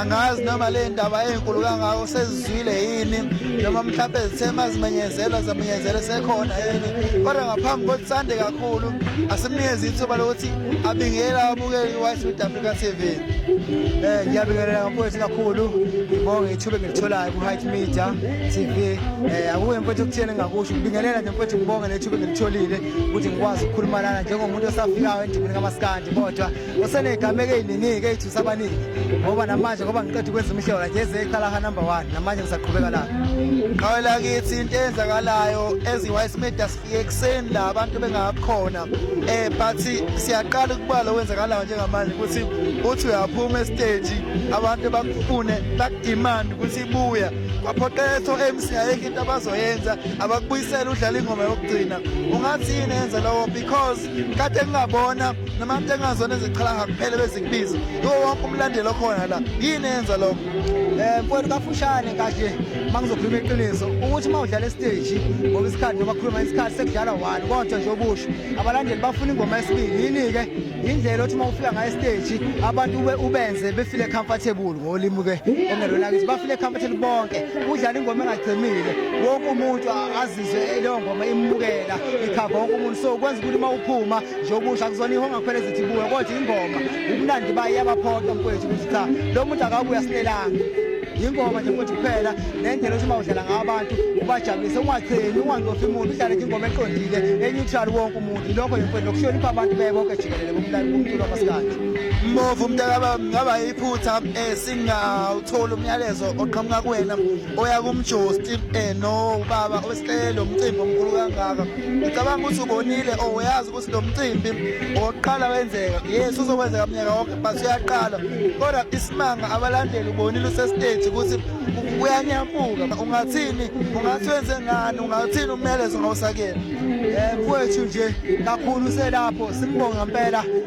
angazi noma le ndaba enkulu kangako sezizwile yini noma mhlawumbe zithema zimenyezelwa zamenyezelwe sekhona yini kodwa ngaphambi kokuthi sande kakhulu asimnikeze ithuba lokuthi abingele abukeli i-white south africa t v um eh, ngiyabingelela ngamfowethu kakhulu ngibonge ithuba engilitholayo ku-height media t v um eh, akuye mfowethu okuthiyeni engakusho ngibingelela nje mfowethu ngibonge nethuba engilitholile ukuthi ngikwazi ukukhuluma lana njengomuntu osafikayo endimini kamasikandi kodwa useneyigameko eyiningi-ke eyithusa abaningi ngoba namanje ngoba ngiqeda ukwenza umhlola nje ezeyiqalaha number one namanje ngisaqhubeka lapho qhawe lakithi into eyenzakalayo ezi-wise media sifike ekuseni la abantu bengakhona um eh, but siyaqala ukubala okwenzakalayo njengamanje ukuthi uthi uyaphuma esiteji abantu bakufune bakudimande ukuthi ibuya kwaphoqetho emsi ayekho into abazoyenza abakubuyisela udlala ingoma yokugcina ungathi yini enza lowo because kade ngingabona namatenganzwana eziqhalaha kuphela bezingibiza yiwo wonke umlandeli okhona la yini yenza lokho um eh, mfowethu kafushane kahle uma ngizokhuluma iqiniso ukuthi uma udlala esiteji ngoba isikhathi noma khuluma isikhathi sekudlala one kodwa nje okusho abalandeli bafuna ingoma yesibili yini-ke yindlela othi uma ufika ngayo esiteji abantu ubenze befile comfortable ngolimi-ke ongelona kithi bafile comfortable bonke udlala ingoma engagcimile wonke umuntu izwe leyo ngoma imukela ikhava wonke umuntu so kwenza ukuthi uma uphuma nje okusha kuzona ihonga kuphela ezithi buya kodwa ingoma ubumnandi bayo iyabaphoqa mfowethu ukuthi cha lo muntu akabuya silelanga yingoma nje futhi kuphela nendlela othi uma udlala ngawo abantu ubajabulise ungacheni ungancofi muntu udlale nje ingoma eqondile eneutral wonke umuntu lokho yimfowethu nokuhlonipha abantu beye bonke jikelele bomlali bomculo wamasikhathi mbovu mntakababa ngaba yiphutha um singawutholi umyalezo oqhamuka kuwena oya kumjosti eh no ubaba owesicelo umcimbi omkhulu kangaka ngicabanga ukuthi ubonile or oh, uyazi ukuthi lo mcimbi owokuqala wenzeka yes uzokwenzeka mnyaka wonke but uyaqala kodwa isimanga abalandeli ubonile usestage ukuthi uyanyamuka ungathini ungathi wenze ngani ungathini umyalezo ngawusakela um eh, kwethu nje kakhulu selapho simbonga mpela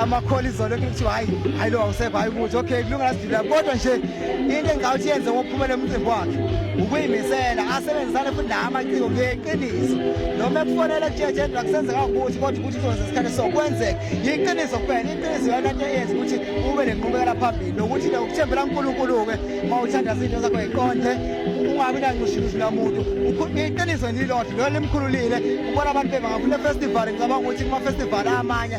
amakholi izolo kuthiwa hayi hayi lo awusekho hayi ukuthi okay kulunga lasidila kodwa nje into engicawuthi yenze ngokuphumela umcimbi wakhe ukuyimisela asebenzisane futhi la amaciko ngeqiniso noma ekufonela kujeje ndla kusenzeka ukuthi kodwa ukuthi kuzonza isikhathi so kwenzeka yiqiniso kuphela iqiniso yona into eyenza ukuthi ube nenqubekela phambili nokuthi ke ukuthembela uNkulunkulu-ke uma uthanda izinto zakho yiqonde ungabi nancushulushi lamuntu iqiniso nilodwa lona limkhululile ubona abantu bebangafuna festival ngicabanga ukuthi kuma-festival amanye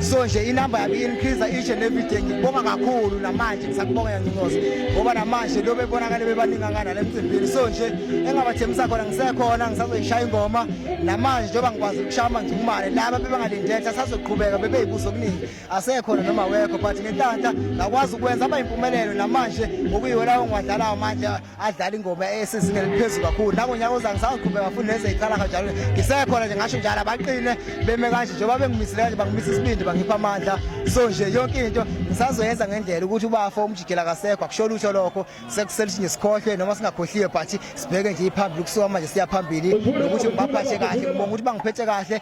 so nje inamba yami increase each and every day ngibonga kakhulu namanje ngisakubonga yancincoza ngoba namanje lo bebonakale bebaningi angana lemcimbini so nje engabathembisa khona ngisekhona ngisazoyishaya ingoma namanje njengoba ngikwazi ukushaya amanjumane laba bebangalindetha sazoqhubeka bebeyibuzo okuningi asekhona noma wekho but ngenhlanhla ngakwazi ukwenza abayimpumelelo namanje okuyiwo lawo ngiwadlalayo manje adlala ingoma esizingeni eliphezulu kakhulu nangonyaka oza ngisawuqhubeka kakhulu lezi ey'qala kanjalo ngisekhona nje ngasho njalo abaqine beme kanje njengoba bengimisile kanje bangimisa isibindi bangipha amandla so nje yonke into ngisazoyenza ngendlela ukuthi ubafo umjikela kasekho akusho lutho lokho sekuseluthi nje sikhohlwe noma singakhohliwe but sibheke nje iphambili kusuka manje siya phambili nokuthi ngibaphathe kahle ngibonga ukuthi bangiphethe kahle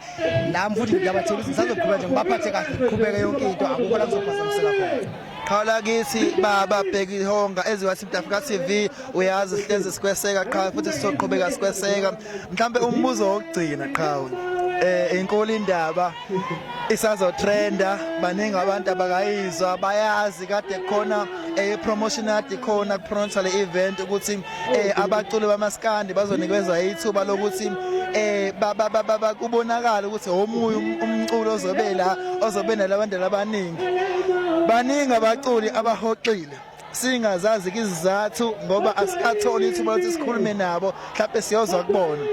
nami futhi ngiyabathela ukuthi ngisazoqhubeka nje ngibaphathe kahle ngiqhubeke yonke into akukho la kuzophazamiseka khona qhala kithi baba bheki honga eziwasinta Africa TV uyazi sihlezi sikweseka qha futhi sizoqhubeka sikweseka mhlambe umbuzo wokugcina qha eh inkulu indaba isazotrenda baningi abantu abakayizwa bayazi kade khona eh promotion yadi khona kuphronsa le event ukuthi eh abaculi bamaskandi bazonikezwa ithuba lokuthi eh baba baba kubonakala ukuthi omunye um, umculo ozobe la ozobe nalabandela abaningi baningi abaculi abahoxile singazazi izizathu ngoba asikatholi ithuba lokuthi sikhulume nabo mhlawumbe siyozwa kubona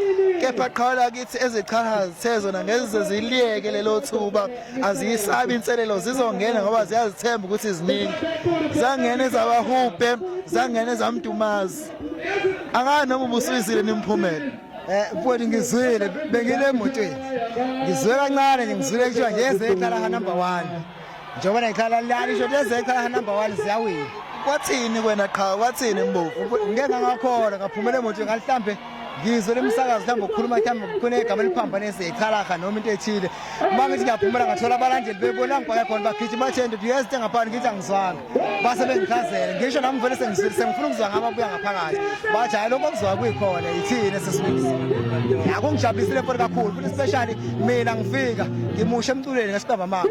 kepha qhala kithi ezichaha zithe zona ngeze ziliyeke lelo thuba aziyisabi inselelo zizongena ngoba ziyazithemba ukuthi ziningi zangena ezabahubhe zangena ezamdumazi akani noma ubusuyizile nimphumela eh mfowethu ngizwile bengile emotweni ngizwe kancane nje ngizwile kuthiwa nje ezekhala ha number 1 njengoba nekhala lali isho ukuthi ezekhala ha number 1 ziyawina kwathini kwena qha kwathini mbovu ngeke ngakholwa ngaphumela emotweni ngalihlambe ngizwe lemisakazi mhlawumbe ukukhuluma mhlawumbe kunegama eliphambanise ichalaha noma into ethile uma ngithi ngiyaphumela ngathola abalandeli bebona ngibhake khona bagijima bathe ndoda uyezithe ngaphandle ngithi angizwanga base bengichazele ngisho nami vele sengizwile sengifuna ukuzwa ngabo abuya ngaphakathi bathi hhayi lokho okuzwa kuyikhona yithini esesikuzo akungijabulise le mfoni kakhulu futhi especially mina ngifika ngimushe emculweni ngesibamba mama